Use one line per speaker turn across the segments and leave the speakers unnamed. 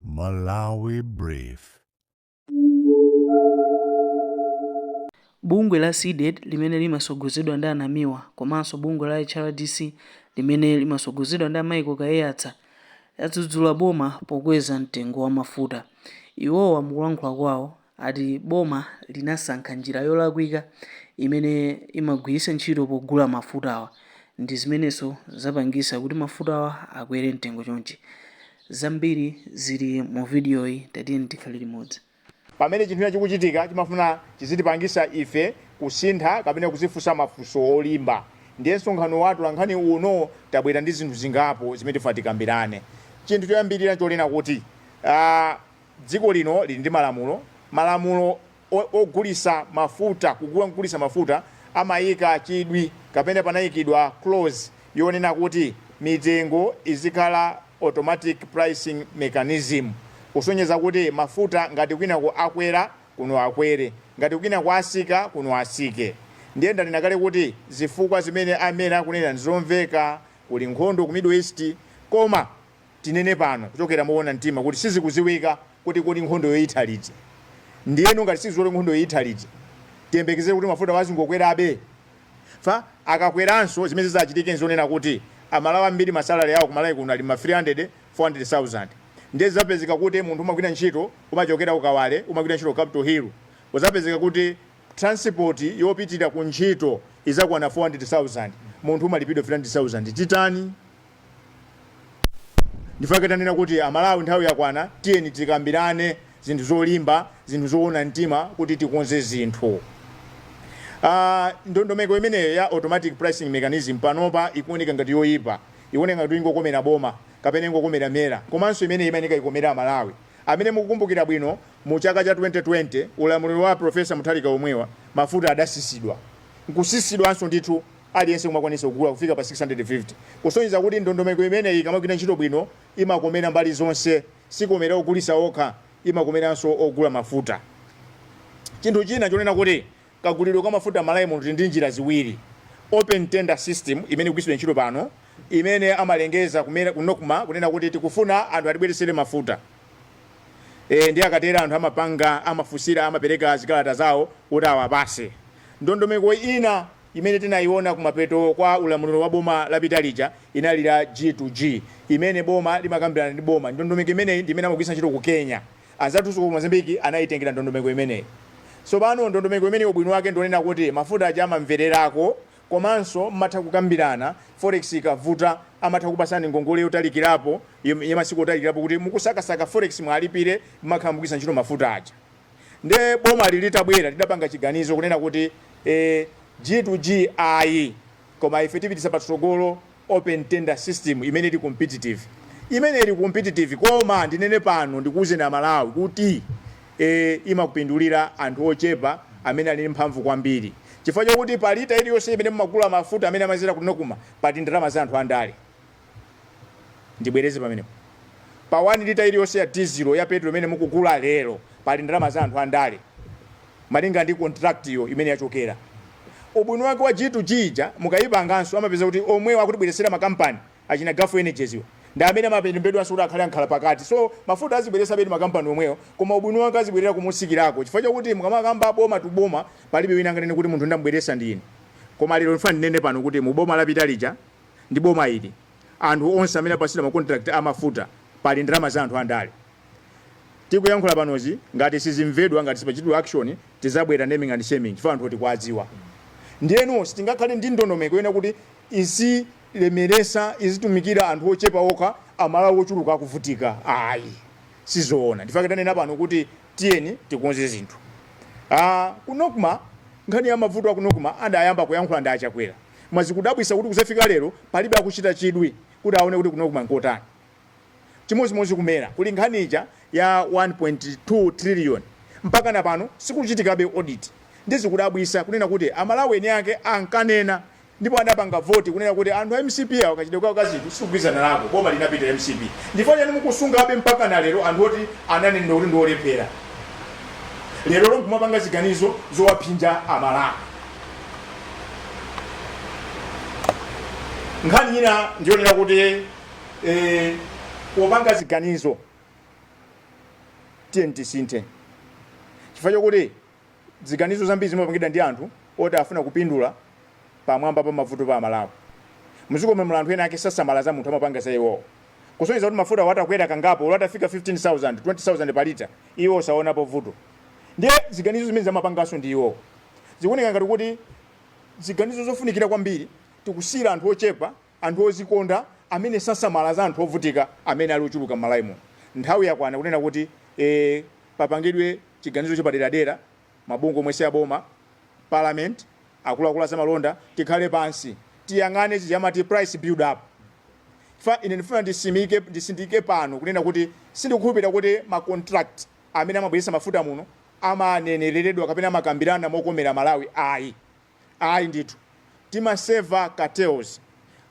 Malawi
Brief. Bungwe la Cdedi limene limasogozedwa ndi a Namiwa komanso bungwe la HRDC limene limasogozedwa ndi a Michael Kaiyatsa yadzudzula boma pokweza mtengo wa mafuta. Iwowa mukulankhula kwawo ati boma linasankha njira yolakwika imene imagwiritsa ntchito pogula mafutawa ndi zimenenso zapangisa kuti mafutawa akwere mtengo chonchi. Zambiri zili mu vidiyoyi tatiyeni tikhale limodzi. Pamene chinthu
china chikuchitika, chimafuna chizitipangisa ife kusintha kapena kuzifunsa mafunso olimba. Ndiye msonkhano wa atolankhani uno tabwera ndi zinthu zingapo zimene tifuna tikambirane. Chinthu choyambirira nchonena kuti. Dziko lino lili ndi malamulo, malamulo ogulisa mafuta, kugulisa mafuta amayika chidwi kapena panayikidwa clause yonena kuti mitengo izikhala automatic pricing mechanism kusonyeza kuti mafuta ngati kwinako akwera kuno akwere ngati kwinako asika kuno asike ndiye ndanena kale kuti zifukwa zimene a MERA akunena ndizomveka kuli nkhondo ku middle east koma tinene pano kuchokera moona mtima kuti sizikuziwika kuti kodi nkhondoyo itha liti. Ndiyeno ngati sizidziwika kuti nkhondoyo itha liti, tiyembekezere kuti mafutawo azingokwerabe? Chifukwa akakweranso zimene zizachitike n'zonena kuti Amalawi ambiri masalary awo ku Malawi kuno ali m'ma 300, 400,000. Ndiye zizapezeka kuti munthu umagwira ntchito umachokera ku Kawale umagwira ntchito ku Capital Hill, uzapezeka kuti transport yopitira kuntchito izakwana 400,000, munthu umalipidwa 300,000. Titani? Ndifake tanena kuti amalawi nthawi yakwana tiyeni tikambirane zinthu zolimba zinthu zoona mtima kuti tikonze zinthu aah ndondomeko imeneyo ya automatic pricing mechanism panopa ikuoneka ngati yoipa ikuoneka ngati kuti ingokomera boma kapena ingokomera mera komanso imeneyi imayeneka ikomere amalawi amene mukukumbukira bwino mu chaka cha 2020 ulamuliro wa a professor mutharika omwewa mafuta adasisidwa nkusisidwanso ndithu aliyense kumakwanisa kugula kufika pa 650, kusonyeza kuti ndondomeko imeneyi ikamagwira ntchito bwino imakomera mbali zonse, sikomera ogulisa okha, imakomeranso ogula mafuta. Chinthu china chonena kuti kagulidwe kwa mafuta m'Malawi muno tili ndi njira ziwiri, Open Tender System imene ikugwiritsidwa ntchito pano imene amalengeza ku MERA ku Nocma kunena kuti tikufuna anthu atibweretsere mafuta, eeh, ndiye akatero anthu amapanga, amafunsira, amapereka zikalata zawo kuti awapatse. Ndondomeko ina. imene tinayiona kumapeto kwa ulamuliro wa boma lapita lija inali ya G to G imene boma limakambirana ndi boma. Ndondomeko imeneyi ndi imene amagwiritsa ntchito ku Kenya. Anzathunso ku Mozambique anayitengera ndondomeko imeneyi. Tsopano ndondomeko imeneyi ubwino wake ndi onena kuti mafuta aja amabwererako komanso mumatha kukambirana forex ikavuta amatha kukupatsani ngongole yotalikirapo, ya masiku otalikirapo kuti mukusakasaka forex muwalipire mumakhala mukugwiritsa ntchito mafuta aja. Nde bomali litabwera lidapanga chiganizo kunena kuti ee G to G ayi koma ife tipititsa patsogolo open tender system imene ili competitive. Imeneyi ili competitive koma ndinene pano ndikuuzeni Amalawi kuti ee imapindulira anthu ochepa amene ali ndi mphamvu kwambiri chifukwa chakuti pa lita iliyonse imene mumagula mafuta amene amadzera ku Nocma pali ndalama za anthu andale. Ndibwereze pamenepo. Pa 1 lita iliyonse ya dizilo, ya petulo imene mukugula lero, pali ndalama za anthu andale, malinga ndi kontirakitiyo imene yachokera. Ubwino wake wa G-2G ija mukaipanganso amapeza kuti omwewo akutibweretsera makampani, achina Gulf Energies wo, ndi amene amalembedwanso kuti akhale ankhalapakati. So, mafuta azibweretsabe ndi makampani omwewo, koma ubwino wake azibwerera motsikirako chifukwa chakuti mukamakamba boma to boma, palibe wina angamanene kuti munthu ndam'bweretsa ndi ine. Koma lero ndifuna ndinene pano kuti mu boma lapita lija, ndi boma ili anthu onse amene apasidwa ma contract a mafuta pali ndalama za anthu andale tikuyankhula panozi ngati sizimvedwa ngati sipachitidwa action tizabwera naming and shaming chifukwa anthu tikuwadziwa ndiyeno sitingakhale ndi ndondomeko yonena kuti izilemeresa izitumikira anthu ochepa okha amalawi ochuluka akuvutika ayi sizoona ndifake tanena pano kuti tiyeni tikonze zinthu Ah, ku Nocma nkhani ya mavuto a ku Nocma adayamba kuyankhula ndi a Chakwera koma zikudabwisa kuti kuzafika lero palibe akuchita chidwi kuti aone kuti ku Nocma nkotani. chimozimozi ku Mera kuli nkhani ija ya 1.2 trillion mpakana pano sikukuchitikabe audit nde zikudabwisa kunena kuti amalawi eni ake ankanena ndipo adapanga vote kunena kuti anthu a mcp awa kachitidwe kawo ka zinthu sitikugwizana nako boma linapita la mcp ndifukwa chani mukusungabe mpakana lero anthu oti ananenedwa kuti ndiolephera lerolo nkumapanga ziganizo zowaphinja amalawi. nkhani ina ndiyonena kuti eh, opanga ziganizo tiyeni tisinthe chifukwa chokuti ziganizo zambiri zimapangidwa ndi anthu oti afuna kupindula pamwamba pa mavuto pa amalawi mdziko momwe anthu ena ake sasamala za munthu amapanga za iwowo kusonyeza kuti mafuta wa atakwera kangapo olo atafika 15000 20000 pa lita iwo osaonapo vuto ndiye ziganizo zimene amapanganso ndi iwowo Zikuoneka ngati kuti ziganizo zofunikira kwambiri tikusiyira anthu ochepa, anthu ozikonda amene sasamala za anthu ovutika amene ali ochuluka m'Malawi muno. Nthawi yakwana kunena kuti ee papangidwe chiganizo chapaderadera, mabungwe omwe siaboma, parliament, akuluakulu azamalonda tikhale pansi tiyang'ane chija timati price build up chifukwa ine ndifuna ndisimike, ndisindike pano kunena kuti sindikukhulupirira kuti ma contract amene amabweretsa mafuta muno amanenereredwa kapena amakambirana mokomera Malawi ayi ayi ndithu timaserva cartels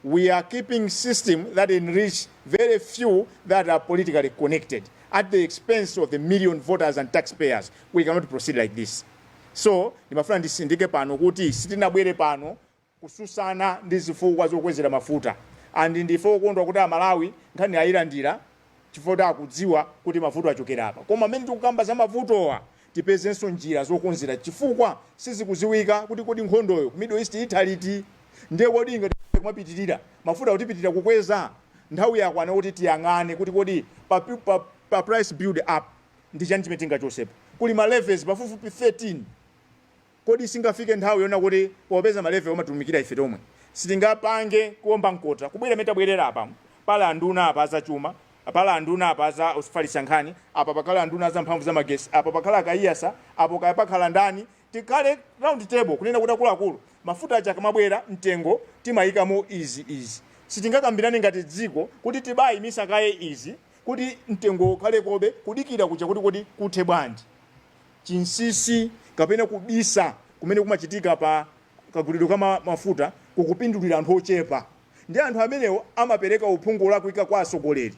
we are keeping system that enrich very few that are politically connected at the expense of the million voters and tax payers we cannot proceed like this so ndimafuna ndisindike pano kuti sitinabwere pano kususana ndi zifukwa zokwezera mafuta and ndife okondwa kuti amalawi nkhani ayilandira chifukwa kuti akudziwa kuti mavuto achokera apa koma pamene tikukamba za mavutowa tipezenso njira zokonzera chifukwa sizikuziwika kuti kodi nkhondoyo ku middle east itha liti ndiye kodi ikati kumapitilira mafutawo tipitilira kukweza nthawi yakwana kuti tiyang'ane kuti kodi pa, pa, pa price build up ndi chani chimene tingachotsepo kuli ma levies pafupifupi 13 Kodi singafike nthawi yonena kuti popeza ma levy amatumikira ife tomwe sitingapange kuomba mkota kubwera mmene tabwerera apa pali anduna apa azachuma pali anduna apa azofalitsa nkhani apa pakhale anduna aza mphamvu za magesi apa pakhale a Kaiyatsa apo kaya pakhala ndani tikhale round table kunena kuti akuluakulu mafuta aja akamabwera mtengo timayikamo izi izi sitingakambirane ngati dziko kuti tibayimitsa kaye izi kuti mtengo ukhalekobe, kudikira kunja kuti kodi kuthe bwanji. Chinsisi kapena kubisa kumene kumachitika pa kagulidwe ka mafuta kukupindulira anthu ochepa ndi anthu amenewo amapereka uphungu olakwika kwa atsogoleri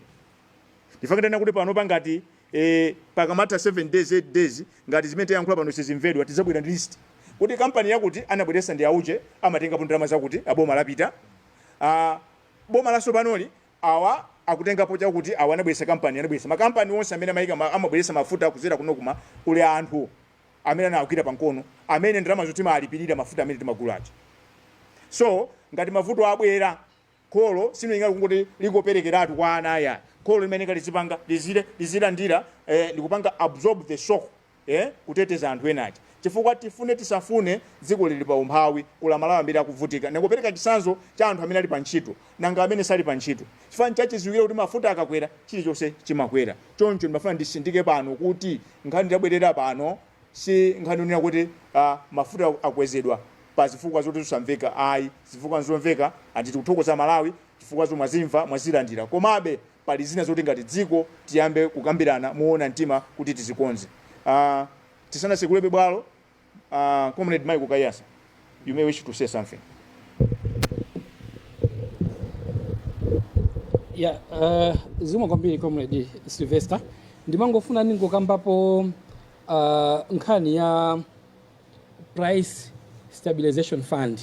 ndichifukwa chake tanena kuti panopa ngati e pakamatha 7 days 8 days ngati zimene tayankhula pano sizimvedwa tidzabwera ndi list kuti kampani yakuti anabweretsa ndi auje amatengapo ndalama zakuti aboma lapita aboma latsopanoli awa akutengapo chakuti awa anabweresa kampani anabweresa makampani onse amene amayika ma- amabweresa mafuta kuzera ku NOCMA kuli anthu amene anawagwira pankono, amene ndalama zo timalipirira mafuta amene timagula aja so ngati mavuto abwera kholo silingangoti likoperekeratu kwa ana ayi kholo limafunika lizipanga lizire lizilandira eh, likupanga absorb the shock ee kuteteza anthu ena aja chifukwa tifune tisafune dziko lili pa umphawi ukulu amalawi ambiri akuvutika ndingopereka chisanzo cha anthu amene ali pa ntchito nanga amene sali pa ntchito chifukwa nchachiziwikire kuti mafuta akakwera chilichonse chimakwera choncho ndimafuna ndisindike pano kuti nkhani tabwerera pano si nkhani yonena kuti ah, mafuta akwezedwa pa zifukwa zoti zisamveka ayi zifukwa nzomveka andi tikuthokoza amalawi zifukwa zomwe mwazimva mwazilandira komabe pali zina zoti ngati dziko tiyambe kukambirana moona mtima kuti tizikonze uh, tisanatsekulebe bwalo uh, comrade michael kaiyatsa you may wish to say something ya
uh, zikomo kwambiri comrade sylvester ndimangofuna ndingokambapo uh, nkhani ya price stabilization fund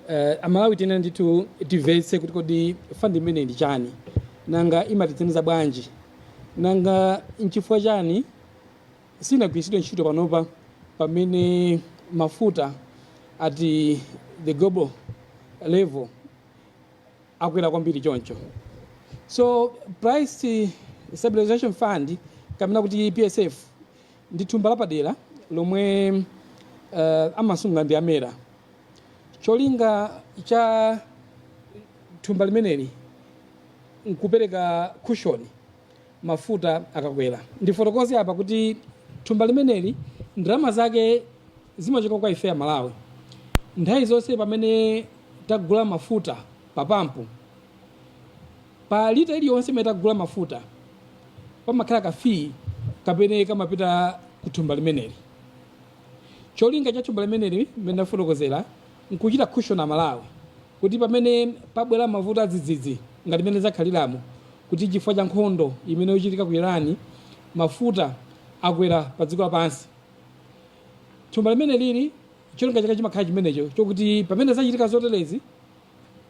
uh, amalawi tiyenera ndithu timvetse kuti kodi fund imeneyi ndi chani nanga imatithandiza bwanji nanga nchifukwa chani sinagwiritsidwe ntchito panopa pamene mafuta at the global level akwera kwambiri choncho so price stabilization fund kapena kuti psf ndi thumba lapadera lomwe uh, amasunga ndi amera cholinga cha thumba limeneli nkupereka cushion mafuta akakwera ndifotokoze apa kuti thumba limeneli ndalama zake zimachoka kwa ife amalawi nthawi zonse pamene tagula mafuta papampu Pa lita iliyonse imene tagula mafuta pamakhala ka fee kamene kamapita ku thumba limeneli. Cholinga cha thumba limeneli mmene ndafotokozera n'kuchita cushion Amalawi kuti pamene pabwera mavuto adzidzidzi ngati mmene zakhaliramu kuti chifukwa cha nkhondo imene ikuchitika ku Iran mafuta akwera padziko lapansi, thumba limenelili cholinga chake chimakhala chimenecho chokuti pamene zachitika zoterezi,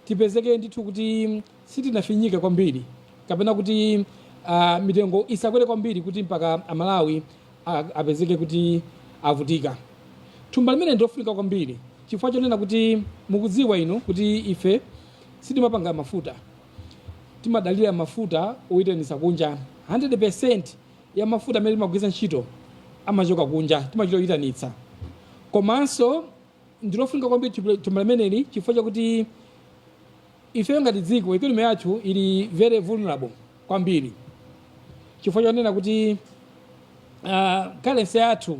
tipezeke ndithu kuti sitinafinyike kwambiri kapena kuti ah, mitengo isakwere kwambiri kuti mpaka amalawi ah, apezeke kuti avutika thumba limeneli ndilofunika kwambiri chifukwa chonena kuti mukudziwa inu kuti ife sitimapanga mafuta timadalira mafuta oyitanitsa kunja 100 percent ya mafuta amene timagwiritsa ntchito amachoka kunja timachita oyitanitsa komanso ndi lofunika kwambiri chipula- thumba limeneli chifukwa chakuti ifeyo ngati dziko economy yathu ili very vulnerable kwambiri chifukwa chonena kuti uh, currency yathu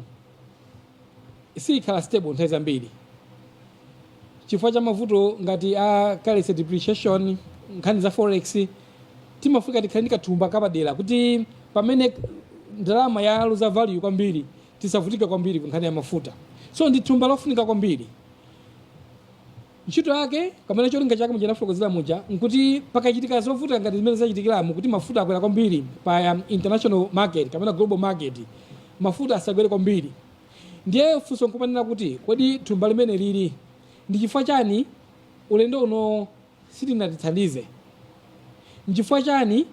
siyikhala stable nthawi zambiri chifukwa cha mavuto ngati a currency depreciation nkhani za forex timafunika tikhale ndi kathumba kapadera kuti pamene ndalama yaluza value kwambiri tisavutike kwambiri ku nkhani ya mafuta so ndi thumba lofunika kwambiri ntchito yake kapena cholinga chake muja nafotokozera muja nkuti pakachitika zovuta ngati zimene zachitikiramu kuti mafuta akwera kwambiri pa um, international market kapena global market mafuta asakwere kwambiri ndiye funso nkumanena kuti kodi thumba limenelili ndi chifukwa chani ulendo uno silinatithandize. Nchifukwa chani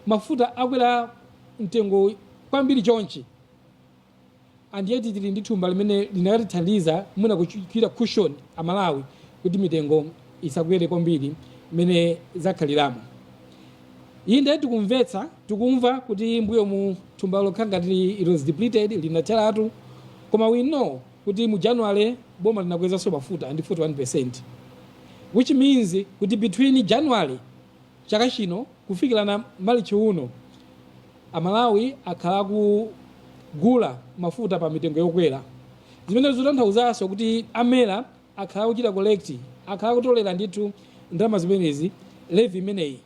mafuta akwera mtengo kwambiri chonchi, and yet tili ndi thumba limene likanatithandiza mwina kuchita cushion Amalawi kuti mitengo isakwere kwambiri mmene zakhaliramu? Inde, tikumvetsa, tikumva kuti m'mbuyomu thumbalo kukhala ngati it was depleted, linatheratu, koma we know. kuti mu January boma linakwezanso mafuta ndi 41% which means kuti between January chaka chino kufikira na March uno Amalawi akhala akugula mafuta pa mitengo yokwera zimene zikutanthauzaso kuti a MERA akhala akuchita collect akhala akutolera ndithu ndalama zimenezi levy imeneyi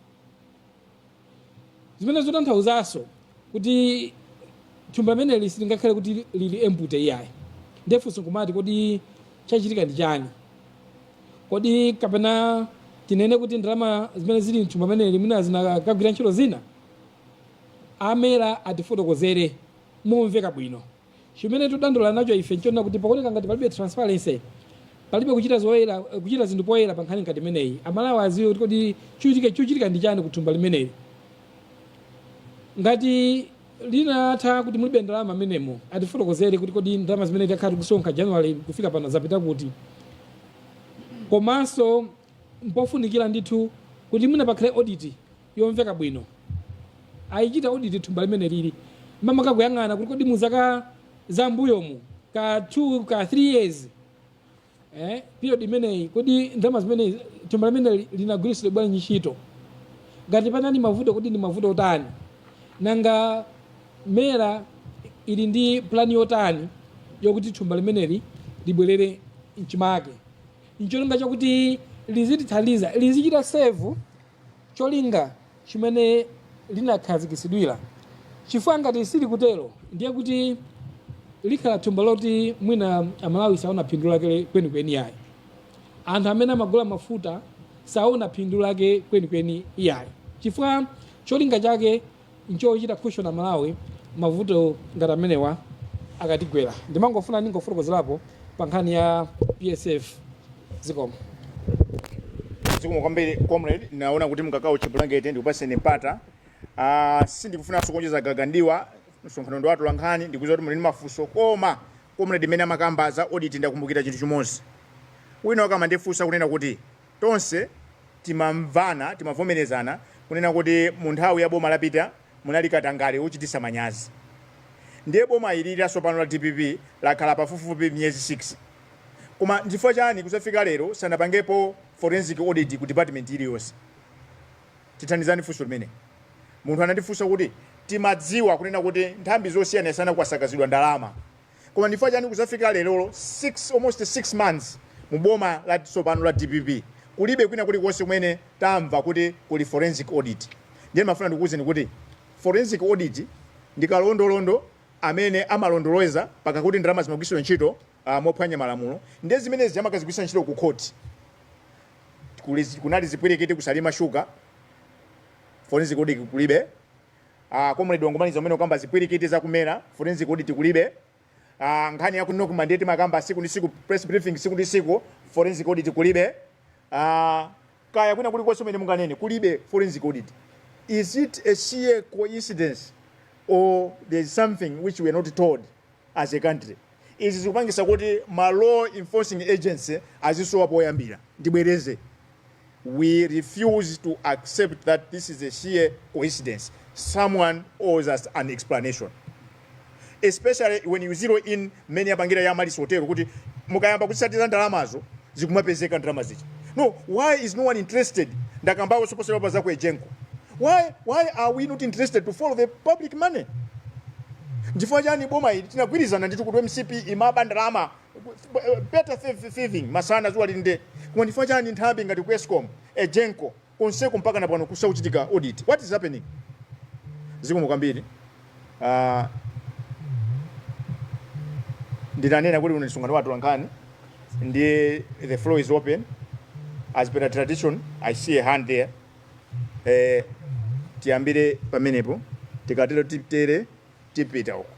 zimene zikutanthauzaso kuti thumba limeneli silingakhale kuti lili empty iyayi nde funso nkumati kodi chachitika ndi chani kodi kapena tinene kuti ndalama zimene zili mthumba limeneli mwina zinakagwira ntchito zina a MERA atifotokozere momveka bwino Chimene tudandaula nacho ife nchonena kuti pakuoneka ngati palibe transparency, palibe kuchita zoyera, kuchita zinthu poyera pankhani ngati imeneyi. Amalawi adziwe kuti kodi chuchitika, chuchitika ndi chani ku thumba limeneli. Ngati linatha kuti mulibe ndalama mmenemo, atifotokozere kuti kodi ndalama zimene takhala tikusonkha January kufika pano zapita kuti. Komanso mpofunikira ndithu kuti mwina pakhale audit yomveka bwino alichite audit thumba limeneli makamaka kuyang'ana kuti kodi mu zaka za mbuyomu kaya 2 kaya 3 years eh, period imeneyi kodi ndalama zimene thumba limeneli linagwiritsidwa bwanji ntchito ngati panali mavuto kodi ndi mavuto otani nanga MERA ili ndi plani yotani yokuti thumba limeneli libwerere mchimake ncholinga chakuti lizitithandiza lizichita serve cholinga chimene linakhazikitsidwira, chifukwa ngati silikutero ndiye kuti lizikhala thumba loti mwina amalawi saona phindu lake kwenikweni yayi anthu amene amagula mafuta saona phindu lake kwenikweni iyayi chifukwa cholinga chake nchochita cushion amalawi mavuto ngati amenewa akatigwera ndimafuna ndingofotokozerapo pa nkhani ya PSF zikomo
zikomo kwambiri comrade naona kuti mkakawo chibulangete ndikupaseni mpata uh, sindikufunanso kuonjeza gaga ndiwa msonkhano ndi wa atolankhani ndikuziwa kuti muli ndi mafunso koma comrade mmene amakamba za audit ndakumbukira chinthu chimodzi wina wakamandifunsa kunena kuti Tonse timamvana, timavomerezana kunena kuti mu nthawi ya boma lapita munali katangale wochitisa manyazi. Ndiye boma ili lasopano la dpp lakhala pafupifupi miyezi 6. Koma nchifukwa chani kuzafika lero sanapangepo forensic audit ku department iliyonse? Tithandizani funso limeneli. Munthu anandifunsa kuti timadziwa kunena kuti nthambi zosiyanasiyana kwasakazidwa ndalama. koma nchifukwa chani kuzafika lerolo 6 almost 6 months mu boma la tsopano la dpp kulibe kwina kulikonse kumene tamva kuti kuli forensic audit ndiye mafuna ndikuwuzeni kuti forensic audit ndi kalondolondo amene amalondoloza paka kuti ndalama zimagwiritsidwa ntchito uh, mophwanya malamulo ndiye zimenezi amakazigwiritsa ntchito ku khoti Kuli- kunali zipwirikiti ku Salima Sugar forensic audit kulibe A comrade wangomaliza kumene kukamba zipwirikiti za ku MERA, forensic audit kulibe. A nkhani ya ku Nocma ndiye timakamba siku ndi siku, press briefing siku ndi siku, forensic audit kulibe. A kaya kwina kulikonse kumene munganene kulibe forensic audit. Is it a sheer coincidence or there is something which we are not told? as a country. Izi zikupangisa kuti ma law enforcing agency azisowa poyambira. Ndibwereze, we refuse to accept that this is a sheer coincidence, someone owes us an explanation especially when you zero in mmene yapangira ya Amaryllis Hotel kuti mukayamba kutsatira ndalamazo zikumapezeka ndalama zija no why is no one interested ndakambawo soposera pa za ku egenco why why are we not interested to follow the public money nchifukwa chani boma ili tinagwirizana ndithu kuti mcp imaba ndalama better thieving masana zuwa lili nde koma nchifukwa chani nthambi ngati ku escom egenco konseko mpakana pano kusakuchitika audit what is happening? Zikomo kwambiri uh, ndinanena kuti uno msonkhano wa atolankhani ndiye the floor is open as per the tradition i see a hand there eh, tiyambire pamenepo tikatero titere tipita uko.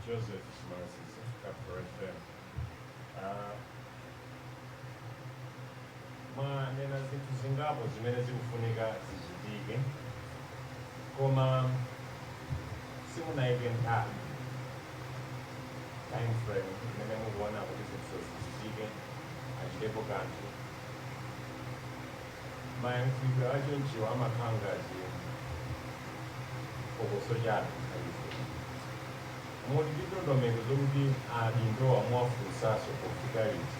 Joseph Moses, Capital FM. Uh, mwanena zinthu zingapo zimene zikufunika zichitike koma simunayike nthawi time frame imene mukuona kuti zinthu zichitike achitepo kanthu mayankhidwe achonchiwo amakhala ngati phokoso chabe aife muli ndi ndondomeko zokuti adindowa muwafunsaso pofika liti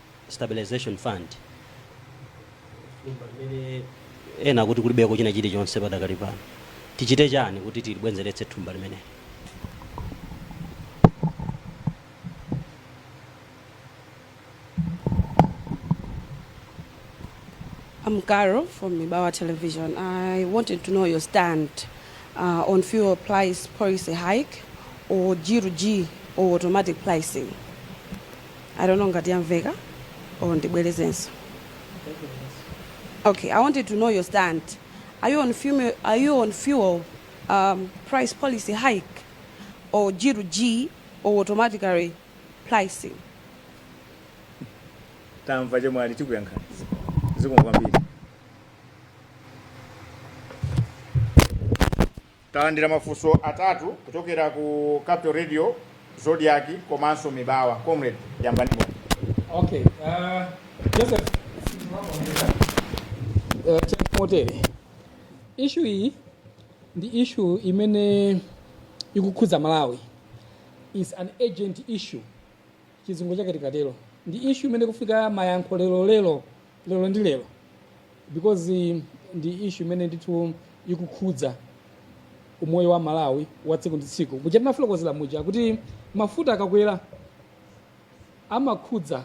stabilization fund thumba limene ena kuti kulibeko china chilichonse padakali pano tichite chani kuti tilibwenzeretse thumba limeneli
I'm Caro from Mibawa Television. I wanted to know your stand uh, on fuel price policy hike or G to G or automatic pricing. I don't know ngati yamveka or ndibwerezenso. Okay, I wanted to know your stand. Are you on fuel, are you on fuel um, price policy hike or G to G or automatically
pricing? tamva chemwali tikuyankhani zikomo kwambiri Talandira mafunso atatu kuchokera ku Capital Radio, Zodiac komanso Mibawa. Comrade, yambani moni. Okay,
uh, Joseph, uh, Chef Motere, issue iyi ndi issue imene ikukhudza Malawi is an urgent issue chizungu chake tikatero ndi issue imene ikufunika mayankho lero lero lero ndi lero because ndi issue imene ndithu ikukhudza umoyo wa amalawi wa tsiku ndi tsiku muja tinafotokozera muja kuti mafuta akakwera amakhudza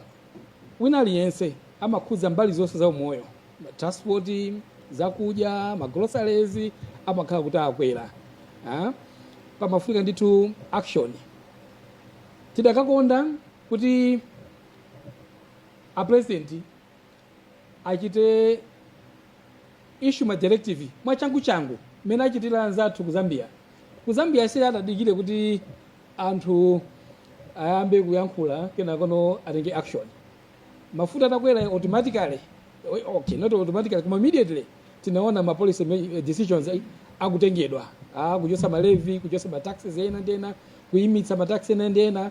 wina aliyense amakhudza mbali zonse za umoyo transport zakudya magroceries amakhala kuti akwera ah? pamafunika ndithu action tidakakonda kuti a president achite issue ma directive mwachangu changu mmene achitira anzathu ku zambia ku zambia si kuti atadikire kuti anthu ayambe kuyankhula kenakono atenge action mafuta atakwera automatically okay not automatically koma immediately tinaona ma policy ma- decisions ai- akutengedwa ah kuchosa malevi kuchosa ma taxes ena ndi ena kuimitsa ma taxes ena ndi ena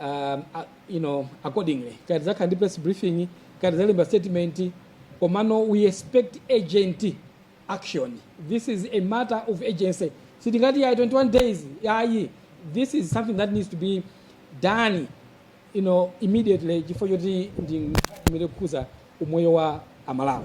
um, a- you know, accordingly kaya tidzakhala ndi press briefing kaya tidzalemba statement komano we expect urgent action this is a matter of urgency sitingati ya 21 days yayi this is something that needs to be done you know, immediately chifukwa choti ndi imene ikukhudza umoyo wa amalawi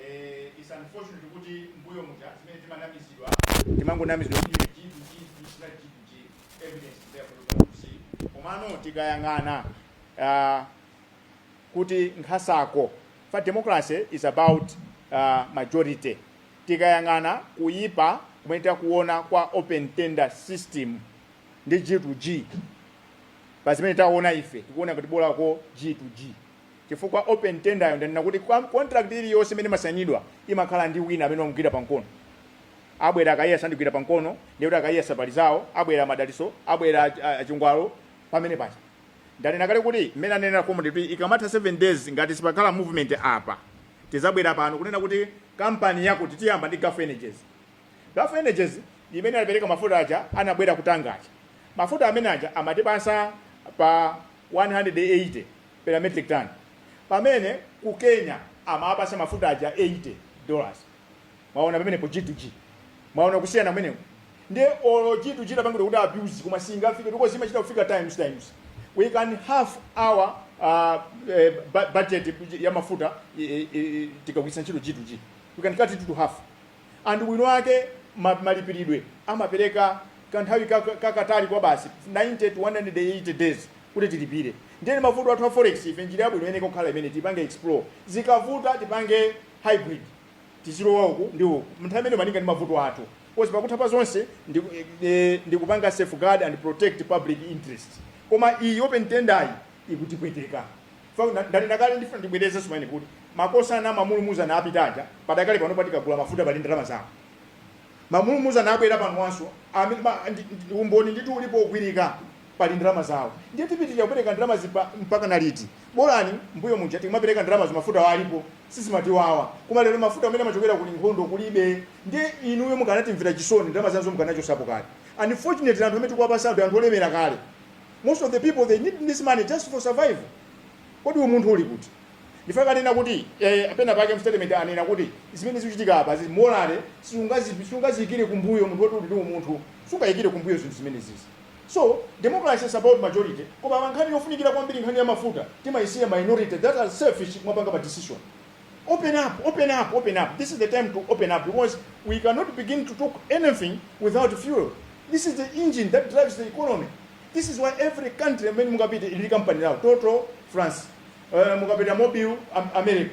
Eh, it's unfortunate kuti mbuyo muja zimene timanamizidwa timangonamizidwa kuti iwe G to G, this is not G to G. Evidence is there for you to see. komano tikayang'ana ah, kuti nkhasako fa democracy is about uh, majority tikayang'ana kuyipa kumene takuona kwa open tender system ndi g to g pa zimene taona ife tikuona kuti bolako g to g chifukwa open tenderyo ndanena kuti kwa contract iliyonse imene imasainidwa imakhala ndi wina amene wamugwira pa mkono abwera a Kaiya sandigwira pa mkono ndiye kuti a Kaiya sapali zawo abwera Madaliso abwera ach- a- a Chingwalo pamene paja ndanena kale kuti mmene anenera komodi kuti ikamatha 7 days ngati sipakhala movement apa tizabwera pano kunena kuti kampani yakuti tiyamba ndi gulf energies gulf energies imene anapereka mafuta aja anabwera ku Tanga aja mafuta amene aja amatipasa pa 180 per metric ton pamene ku Kenya amawapasa mafuta aja 80 dollars mwaona pamenepo G to G mwaona kusiyana kumeneko ndiye olo G to G tapangidwa kuti abuse koma singafike because imachita kufika times times we can half our uh, eh, bu- budget ya mafuta eh, eh, tikagwiritsa ntchito G to G we can cut it to half and ubwino wake ma malipiridwe amapereka kanthawi ka kakatali kwabasi 90 to 180 days kuti tilipire ndiye mavuto athu a forex ife njira yabwino iyeneka kukhala imene tipange explore zikavuta tipange hybrid tizilowa uku ndi uku mnthawi imene malinga ndi mavuto athu coz pakutha pa zonse ndi, eh, ndi kupanga safeguard and protect public interest koma iyi open tenderyi ikutipweteka Fa, na- ndanena kale ndifuna ndibwereze sumene kuti makosana mamulumuzana apita aja padakali pano patikagula mafuta pali ndalama zawo mamulumuzana abwera panowanso amene- ma- ndi- ndi- umboni ndithu ulipo ogwirika pali ndalama zawo ndiye tipitirira kupereka ndalama zipa mpaka na liti bolani mbuyo muja timapereka ndalama zimafuta ali alipo sizimatiwawa koma lero mafuta amene amachokera kuli nkhondo kulibe ndiye inuyo mukanatimvera chisoni ndalama zanuzo mukanachosapo kale unfortunately anthu amene tikuwapasa anthu anthu olemera kale most of the people they need this money just for survival kodi umunthu uli kuti ndiye akanena kuti eh, penapake mstatement anena kuti zimene zikuchitika apa za immoral siungazi- siungaziyikire kumbuyo munthu woti uli ndi umunthu sungayikire kumbuyo zinthu zimene zizi so democracy is about majority koma pa nkhani yofunikira kwambiri nkhani ya mafuta timayisiya minority that are selfish kumapanga pa decision Open up, open up, open up. This is the time to open up because we cannot begin to talk anything without fuel. This is the engine that drives the economy. This is why every country amene mungapita ili company lawo Total France, uh, mungapita Mobil Am- America,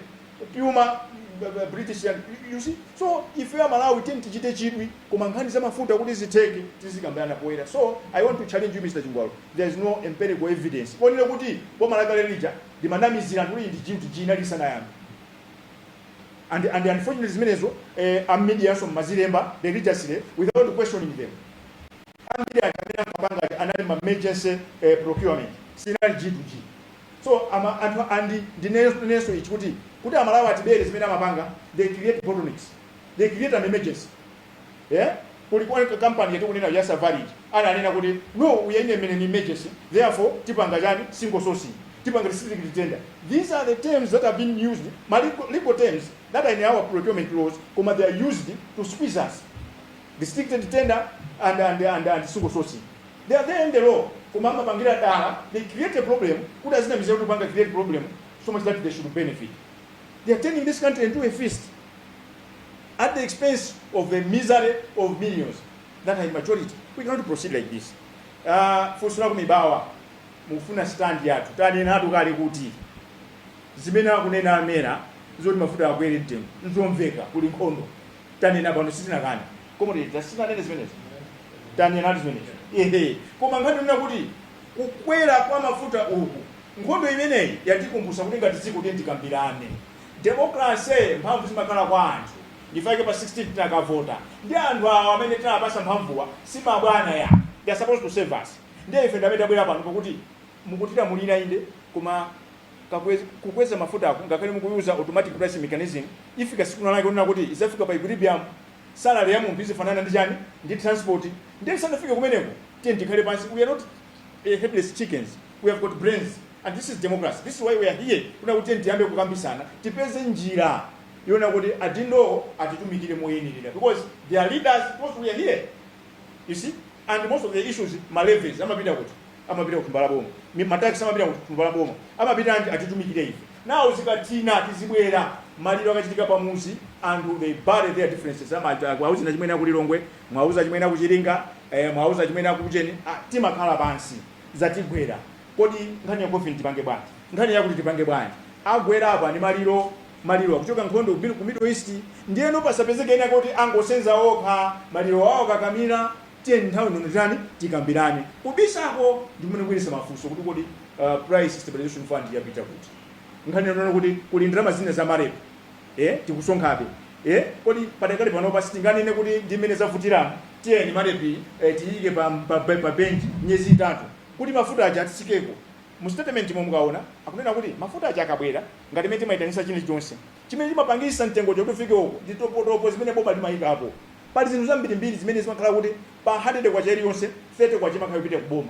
Puma b- b- British yani, you- you see. So if you are Malawi tend tichite chidwi koma nkhani za mafuta kuti zitheke tizikambirana poyera. So I want to challenge you Mr. Chingwalo. There is no empirical evidence. Only kuti boma lakale lija limanamizira anthu kuti ndi G to G inali isanayambe and and unfortunately zimenezo eh, a media somazilemba religiously without questioning them a media amene ankapanga aja anali ma emergency eh, procurement sinali G to G so ama anthu andi ndinenso ichi kuti kuti aMalawi atibere zimene amapanga they create bottlenecks they create an emergency Yeah? Kuli kwa kampani yetu kunena ya Savarij ananena kuti no uyenye mene ni emergency therefore tipanga chani single sourcing tipanga district tender these are the terms that have been used ma legal, legal terms that are in our procurement laws koma they are used to squeeze us restricted tender and and and, and single sourcing they are there in the law koma amapangira dala they create a problem kuti azina mizero kuti panga create problem so much that they should benefit they are turning this country into a feast at the expense of the misery of millions that are in majority we cannot proceed like this uh, funso la kumibawa mufuna stand yathu tanenatu kale kuti zimene akunena a MERA zoti mafuta akwere mtengo nzomveka kuli nkhondo tanena pano sitinakane comrade sitinanene zimenezo tanenatu zimenezo ehe koma nkhani yonena kuti kukwera kwa mafuta uku nkhondo imeneyi yatikumbutsa kuti ngati dziko tiye tikambirane Democracy mphamvu zimakhala kwa anthu ndichifukwa chake pa 16 tinakavota ndi anthu awa amene tinapasa mphamvuwa simabwana ya they are supposed to serve us ndiye ife ndamene tabwera pano pakuti mukutilamulira inde koma kakwez, kukweza mafutaku ngakhale mukuyuza automatic pricing mechanism ifika siku nalake kunena kuti izafika pa equilibrium salary ya munthu izifanana ndi chani ndi transport ndiye isanafike kumeneko tiye tikhale pansi we are not a headless chickens we have got brains and this is democracy this is why we are here kunena kuti tiyambe kukambisana tipeze njira yonena kuti adindowo atitumikire moyenelera because they are leaders because we are here you see and most of the issues malevies amapita kuti amapita ku mbali ya boma Mi- matax amapita ku mbali ya boma amapita anti atitumikire ife nawo zikatina tizibwera maliro akachitika pamuzi and they bury their differences amati mwauza achimwene akulilongwe mwauza achimwene akuchiringa eh, mwauza achimwene akuntcheu ah, timakhala pansi zatigwera kodi nkhani ya coffin tipange bwanji nkhani yakuti tipange bwanji agwera apa ndi maliro maliro akuchoka nkhondo kumene ku middle east ndiyeno pasapezeke ena kuti angosenza okha maliro awo kakamira tiyeni nthawi ino tiitane tikambirane kubisako ndi kumene kubweretsa mafunso kuti kodi uh, price stabilization fund yapita kuti nkhani yonena kuti kuli ndalama zina za MAREP ee tikusonkhabe ee kodi padakali panopa sitinganene kuti ndi mmene zavutiramu tiyeni MAREP yi tiyiike pa, pa, pa, pa bench miyezi itatu kuti mafuta aja atsikeko mu statement mo mukaona akunena kuti mafuta aja akabwera ngati mmene timaitanisa chilichonse chimene chimapangisa mtengocho kuti ufike uko ndi topotopo zimene boma limayikapo pali zinthu zambirimbiri zimene zimakhala kuti pa 100 kwacha iliyonse 30 kwacha imakhala ikupita ku boma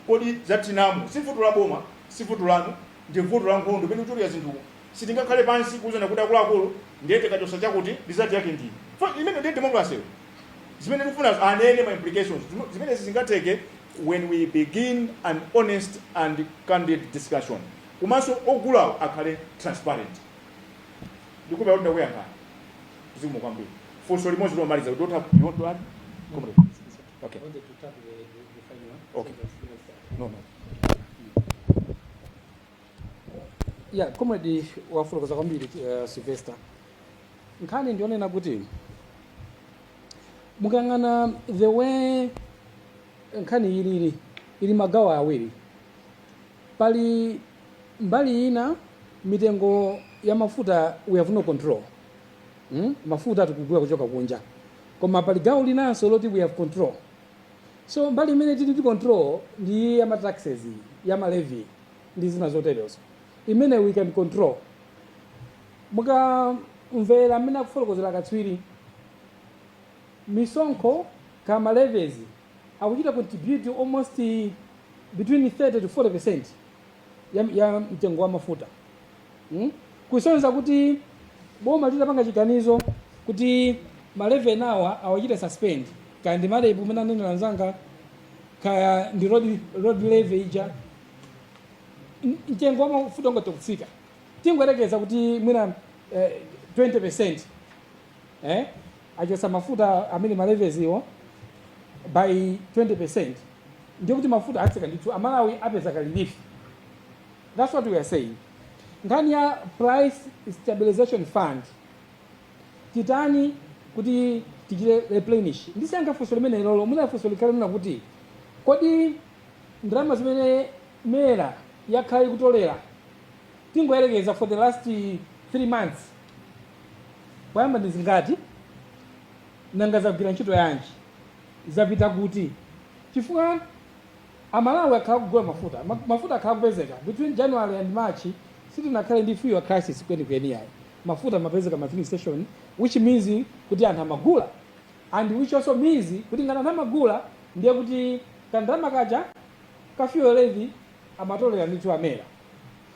kodi zatinamu kuti si vuto la boma si vuto lanu ndi vuto la nkhondo imene ikuchulira zinthu Sitingakhale pansi kuuzana kuti akuluakulu ndiye tikachosa chakuti result yake ndi iyi. Chifukwa imeneyo ndiye democracy yo. Zimene tikufunazo anene ma implications. Zimenezi zingatheke when we begin an honest and candid discussion. Komanso ogulawo akhale transparent. Ndikuwona kuti ndakuyankhani. Zikomo kwambiri. Funso limodzi lomaliza. You don't have, you want to add? Comrade. Okay. wanted to tackle the, the, the final one. Okay. Because, you know, No, no.
yeah comrade wafotokoza kwambiri uh, sylvester nkhani ndionena kuti mukayang'ana the way nkhani ilili ili magawo awiri pali mbali ina mitengo ya mafuta we have no control mm? mafuta tikugula kuchoka kunja koma pali gawo linanso loti we have control so mbali imene tili ndi control ndi ya mataxes ya malevi ndi zina zoterezo imene we can control mukamamvera amene akufotokozera katswiri misonkho ndi ma levies akuchita contribute almost between 30 to 40 percent ya, ya mtengo wa mafuta Hmm? Kusonyeza kuti boma litapanga chiganizo kuti ma levy enawa awachite suspend kaya ndi marep umene anenera anzanga kaya ndi road, road levy ija N- mtengo wa mafuta ungathe kutsika tingoyerekeza kuti mwina eh, 20 percent eh, achosa mafuta amene ma levies-wo by 20 percent ndiye kuti mafuta atsika ndithu amalawi apeza ka relief That's what we are saying. Nkhani ya price stabilization fund titani kuti tichite replenish. Ndisanayankhe funso limenelolo mwina funso likhale lonena kuti kodi ndalama zimene mera yakhala ikutolera tingoyerekeza for the last eh, three months poyamba ndi zingati nanga zagwira ntchito yanji zapita kuti chifukwa A Malawi akhala akugula mafuta, mafuta akhala akupezeka, between January and March sitinakhale ndi fuel crisis kwenikweni yayi, mafuta amapezeka m'ma filling station which means kuti anthu amagula and which also means kuti ngati anthu amagula ndiye kuti ka ndalama kaja ka fuel levy amatolera ndithu a mera.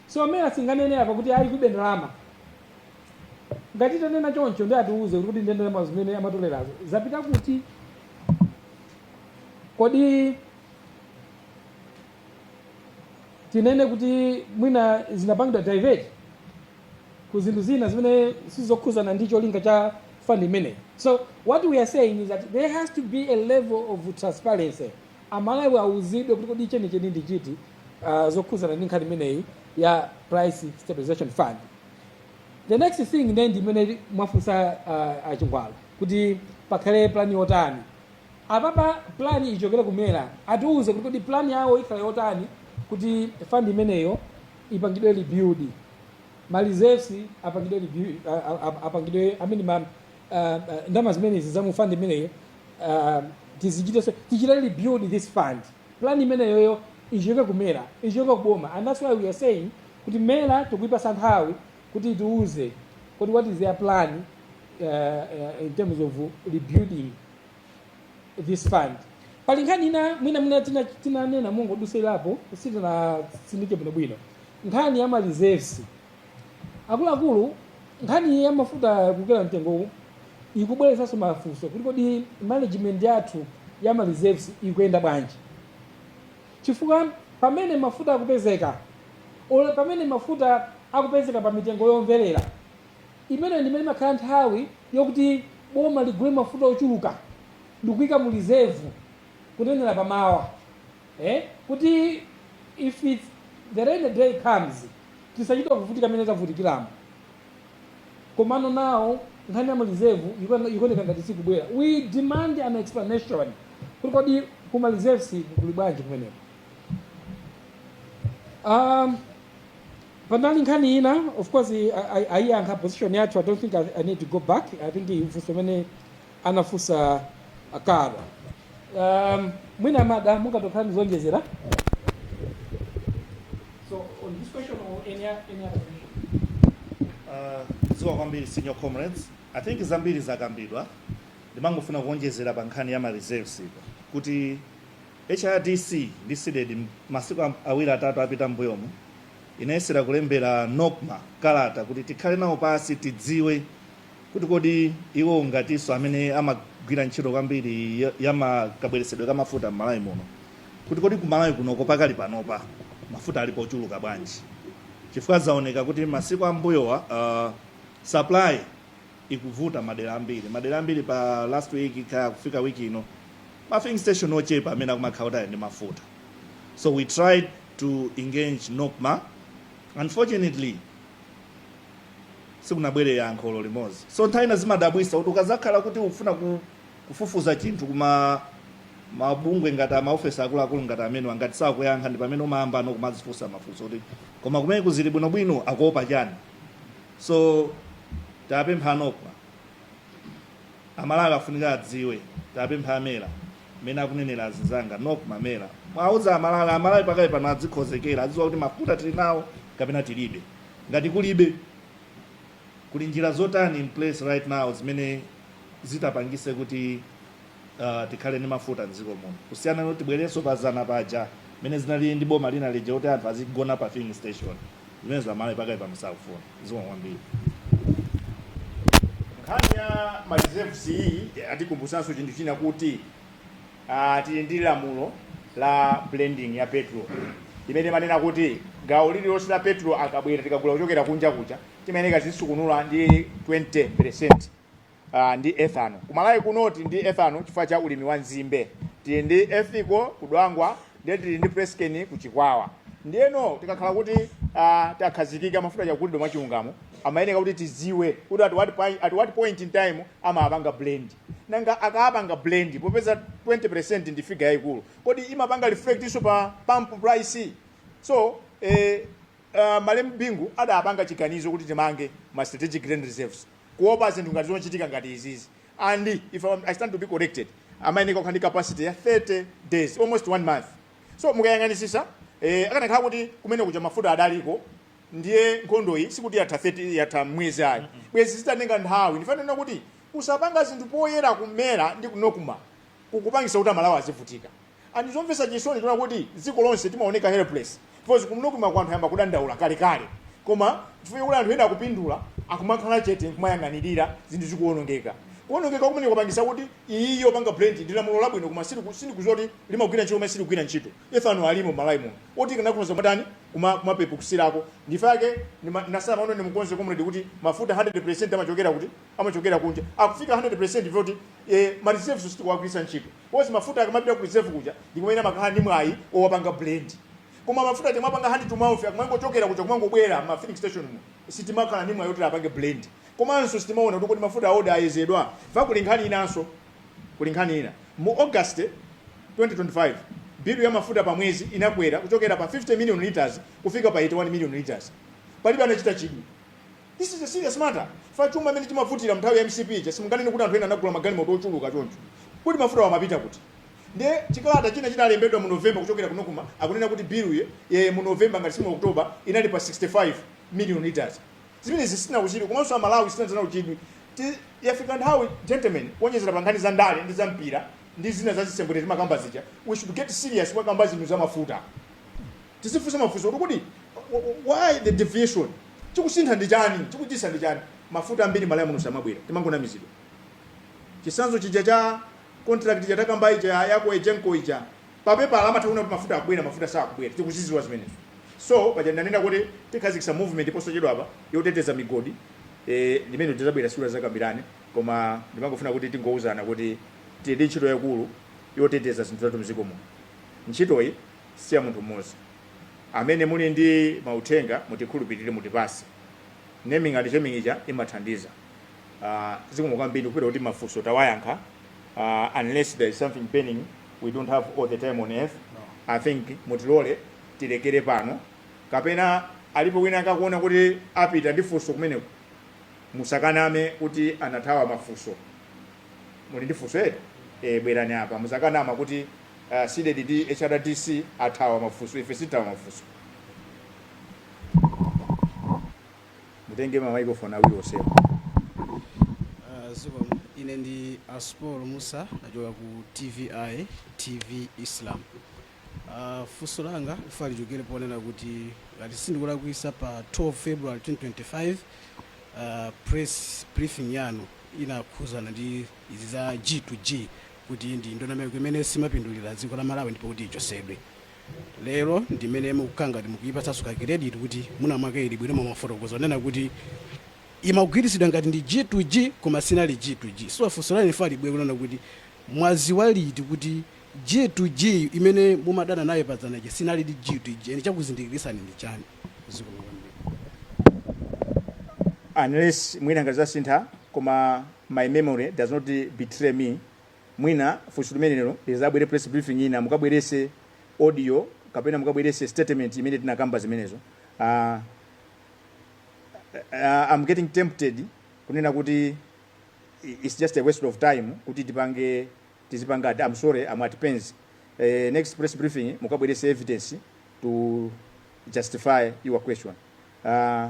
So mera singanene apa kuti ayi kulibe ndalama, ngati itanena choncho ndiye atiuze kuti kodi ndalama zimene amatolerazo zapita kuti? kodi tinene kuti mwina zinapangidwa divert ku zinthu zina zimene sizokhuzana ndi cholinga cha fund imeneyi so what we are saying is that there has to be a level of transparency amalawi awuzidwe kuti kodi chenicheni ndi chiti uh, zokhuzana ndi nkhani imeneyi ya price stabilization fund the next thing then ndi imene mwafunsa uh, a Chingwalu kuti pakhale plani yotani apapa plan ichokere ku mera atiuze kuti kodi plan yawo ikhala yotani kuti fund imeneyo ipangidwe rebuild ma reserves apangidwe rebuild a- a- a- apangidwe i mean ma ah, ah, ndalama zimenezi za mu fund imeneyo ah, tizichite so tichite rebuild this fund plan imeneyoyo ichokere ku mera ichokere kuboma and that's why we are saying kuti mera tikuyipasa nthawi kuti itiuze kodi what is their plan uh, uh, in terms of rebuilding this fund pali nkhani ina mwina mwina tina- tinanena mongodusirapo sitinasindike bwinobwino nkhani ya mareserves akuluakulu nkhani ya mafuta kukwera mtengo ikubweresanso mafunso kuti kodi management yathu ya mareserves ikuyenda bwanji Chifukwa pamene mafuta akupezeka, or pamene mafuta akupezeka pa mitengo yomvelera, imeneyo ndi imene imakhala nthawi yokuti boma ligule mafuta ochuluka ndikuika mu reserve kunenela pa mawa eh kuti if the rainy day comes tisachite kuvutika mmene tavutikilamu. Komano now nkhani ya ma reserve ikuona- ikuoneka ngati sikubwera. We demand an explanation. Kuti kodi ku ma reserves kuli bwanji kumeneko? Um, panali nkhani ina of course ayiyankha position yathu i don't think I, i need to go back i think funso limene anafunsa a Kara. Um, mwina mada mungatokhala ndi zonjezera So on this question or any, o- any other question? Uh,
zikomo kwambiri senior comrades i think zambiri zakambidwa ndimangofuna kuonjezera pa nkhani ya ma reserves ipo kuti hrdc ndi cdedi masiku am- awiri atatu apita mbuyomu inayesera kulembera nocma kalata kuti tikhale nawo pasi tidziwe kuti kodi iwo ngatinso amene amagwira ntchito kwambiri ya- ya ma- kabweretsedwe ka mafuta m'malawi muno kuti kodi ku malawi kunoko pakali panopa mafuta alipo ochuluka bwanji chifukwa zaoneka kuti masiku ambuyowa uh, supply ikuvuta madera ambiri madera ambiri pa last week kaya kufika week ino ma filling station ochepa amene akumakhala kuti ali ndi mafuta so we tried to engage nocma unfortunately sikunabwere yankho olo limodzi so nthawi ina zimadabwisa kuti ukazakhala kuti ukufuna ku, kufufuza chinthu kuma mabungwe ngati maofesi akuluakulu ngati amenewa ngati sakuyankha ndi pamene umayamba no kumazifunsa mafunso kuti koma kumeneko zili bwinobwino akuopa chani so tapempha a nocma amalawi afunika adziwe tapempha a mera mmene akunenera azinzanga nocma mera mwauza amalawi amalawi pakali pano adzikhozekera adziwa kuti mafuta tili nawo kapena tilibe Ngati kulibe, kuli njira zotani in place right now zimene zitapangise kuti uh, tikhale ndi mafuta mdziko muno kusiyana ndi kuti tibwererenso pa zana paja mene zinali ndi boma lina lija kuti anthu azigona pa filling station zimenezo amalawi pakali pano sakufuna zomwe
kwambiri nkhani ya ma reserves iyi atikumbusanso chinthu china kuti Uh, tili ndi lamulo la blending ya petrol imene imanena kuti gawo lililonse la petrol akabwera tikagula kuchokera kunja kuja timayeneka tizisukunula ndi 20% uh, ndi ethanol kumalawi kuno tili ndi ethanol chifukwa cha ulimi wa nzimbe tili ndi Ethco kudwangwa ndiye tili ndi PressCane kuchikwawa ndiyeno tikakhala kuti uh, takhazikika mafuta akugulidwa mwachilungamo amayeneka kuti tiziwe kuti at what, point, at what point in time amapanga blend nanga akaapanga blend popeza 20% ndi figure yaikulu kodi imapanga reflect-nso pa pump price so eh, uh, malemu bingu adapanga chiganizo kuti timange ma strategic grain reserves kuopa zinthu ngati zochitika ngati izizi and if I'm- i stand to be corrected amayeneka kukhala ndi capacity ya 30 days almost one month so mukayang'anisisa eh, akanakhala kuti kumene kuja mafuta adaliko ndiye nkhondoyi sikuti yatha 30 yatha mwezi ayi bwezi zitatenga nthawi ndifuna kunena kuti kusapanga zinthu poyera ku MERA ndi ku Nocma kukupangisa kuti amalawi azivutika and zomvesa chisoni tiona kuti dziko lonse timaoneka helpless because ku Nocma-ko anthu ayamba kudandaula kalekale koma chifukwa kuti anthu ena akupindula akumakhala chete kumayang'anirira zinthu zikuonongeka kuonongeka kumene kwapangisa kuti iyi yopanga blend ndi lamulo labwino koma sili- sindikuziwa kuti limagwira ntchito koma silikugwira ntchito ethanol alimo mmalawi muno oti tikanakhoza kumatani kuma kumapepukitsirako ndi fake ndimanena za lamulo ndimukonze comrade kuti mafuta 100% amachokera kuti amachokera kunja akufika 100% zoti e, ma reserves sitikuwagwiritsa ntchito because mafuta akamapita ku reserve kuja ndikumene amakhala ndi mwayi owapanga blend koma mafuta timapanga hand to mouth akumangochokera kuja kumangobwera ma filling station mu sitimakhala ndi mwayi oti apange blend komanso sitimaona kuti kodi mafuta aoda ayezedwa fa kuli nkhani inanso Kuli nkhani ina. Mu August 2025, bill ya mafuta pa mwezi inakwera kuchokera pa 50 million litres kufika pa 81 million litres. Palibe anachita chidwi. This is a serious matter chifukwa chuma mmene chimavutira mnthawi ya mcp ija simunganene kuti anthu ena anagula magalimoto ochuluka choncho. Kodi mafutawo amapita kuti? Ndiye chikalata china chinalembedwa mu November kuchokera ku Nocma akunena kuti bill ya mu November ngati si mu October inali pa 65 million litres. Zimenezi sizinakuchidwe komanso Amalawi sitinadze nawo chidwi. Ti, yafika nthawi, gentlemen, kuonjezera pa nkhani za ndale ndi za mpira ndi zina za zisembwere timakamba zija, we should get serious kumakamba zinthu za mafuta. Tizifunsa mafunso kuti kodi wh- wh- why the deviation? Chikusintha ndi chani? Chikuchitisa ndi chani? Mafuta ambiri Malawi muno samabwera, timangonamizidwa. Chisanzo chija cha contract chija takambayi cha yako ejenko ija pa pepala amatha kunena kuti mafuta akubwera mafuta sakubwera tikuziziwa zimenezo so paja ndanena kuti tikhazikisa movement posachedwapa yoteteza migodi eh, limene tizabwera siku lina tizakambirane koma ndimangofuna kuti tingouzana kuti tili ndi ntchito yaikulu yoteteza zinthu zathu mziko muno ntchitoyi si ya munthu mmodzi amene muli ndi mauthenga mutikhulupirire mutipase naming and shaming ija imathandiza uh, zikomo kwambiri kupita kuti mafunso tawayankha uh, unless there is something burning we don't have all the time on earth i think mutilole tilekere pano kapena alipo wina akakuona kuti apita ndi funso kumeneko musakaname kuti anathawa mafunso muli ndi funso eti e, bwerani apa musakaname kuti uh, cdedi ndi hrdc athawa mafunso ife sithawa mafunso mutenge ma microphone awiri onsewa
Ah, zikomo ine ndi aspol musa nachoka ku tvi tv islam Ah, funso langa ine lichokere ponena kuti ngati sindikulakwisa pa 12 february 2025 ah, press briefing yanu inakhuzana ndi izi za g to g kuti ndi ndondomeko imene simapindulira dziko la malawi ndipo kuti ichosedwe lero ndimene mukukhala ngati mukuyipatsanso ka credit kuti mwina mwake ili bwino mumafotokoza kunena kuti imagwiritsidwa ngati ndi g to g koma sinali g to g so funso langa ine libwere kunena kuti mwaziwa liti kuti g to g imene mumadana nayo pa dzana ija sinali ndi g to g ine chakuzindikirisani ndi chani zikomo
kwambiri unless mwina ngati zasintha koma my memory does not betray me Mwina funso limenelo lizabwere press briefing ina mukabwerese audio kapena mukabwerese statement imene tinakamba zimenezo aah am getting tempted kunena kuti its just a waste of time kuti tipange tizipanga am sorry am at pains next press briefing mukabwerese evidence to justify your question aah.